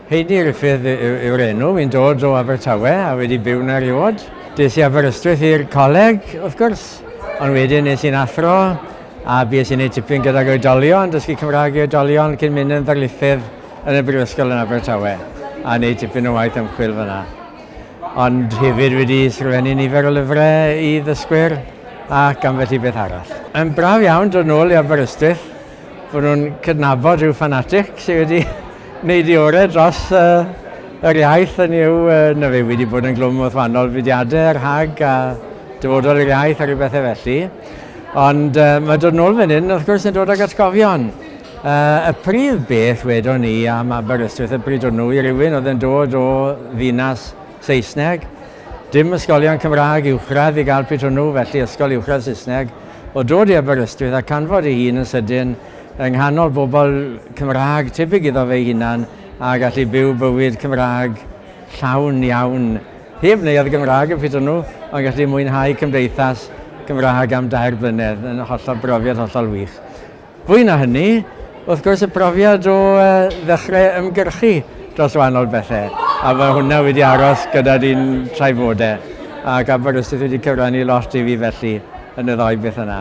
Heidi Griffith yw'r enw, fi'n dod o Abertawe a wedi byw na riod. Des i Aberystwyth i'r coleg, wrth gwrs, ond wedyn nes i'n athro a bues i'n ei tipyn gydag oedolion, dysgu Cymraeg i oedolion cyn mynd yn ddarlithydd yn y Brifysgol yn Abertawe a wneud tipyn o waith ymchwil fyna. ond hefyd wedi sgrifennu nifer o lyfrau i ddysgwyr ac ambell i beth arall. Yn braf iawn dod nôl i Aberystwyth, fod nhw'n cydnabod rhyw ffanatic sydd wedi wneud ei orau dros yr iaith, hynny yw, na fe wedi bod yn glwm wrth wahanol fudiadau rhag a dyfodol yr iaith a rhyw bethau felly. Ond mae dod nôl fan hyn, wrth gwrs, yn dod ag atgofion. Y prif beth wedon ni am Aberystwyth y bryd hwnnw i rywun oedd yn dod o ddinas Saesneg, dim ysgolion Cymraeg uwchradd i gael pryd hwnnw, felly ysgol uwchradd Saesneg, oedd dod i Aberystwyth a canfod ei hun yn sydyn yng nghanol bobl Cymraeg tebyg iddo fe'i hunan a gallu byw bywyd Cymraeg llawn iawn heb neuadd Gymraeg y pryd hwnnw, ond gallu mwynhau cymdeithas Gymraeg am dair blynedd yn hollol brofiad hollol wych. Fwy na hynny, wrth gwrs, y profiad o ddechrau ymgyrchu dros wahanol bethau, a mae hwnna wedi aros gyda di'n trafoda, ac Aberystwyth wedi cyfrannu lot i fi felly yn y ddou beth yna.